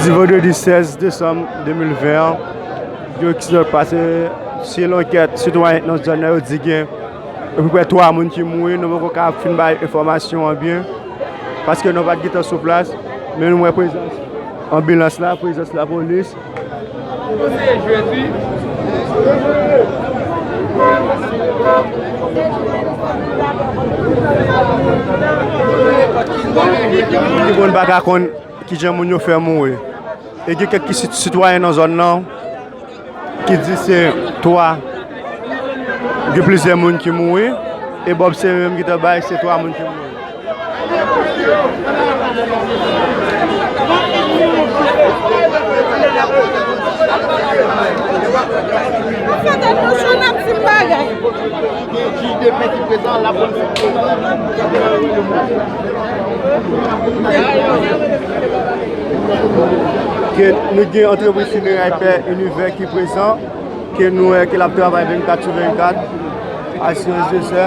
Di vendredi 16 décembre 2020, yo ki se pase si lanket sitwayen nan zòn nan yo di gen epi prè 3 moun ki mouri nou poko ka fin bay enfòmasyon an byen. paske nou pat gentan sou plas men nou wè prezans anbilans la, prezans lapolis. Ki moun pa ka konn kijan moun yo fè mouri e gen kèk sitwayen nan zòn nan. ki di se 3 gen plizyè moun ki mouri e Bob se yo menm ki te bay se 3 moun ki mouri. Ke nou gen antrepriz fineray Pè Inivè ki prezan, ke nou wè ke l ap travay 24 sou 24, asirans desè.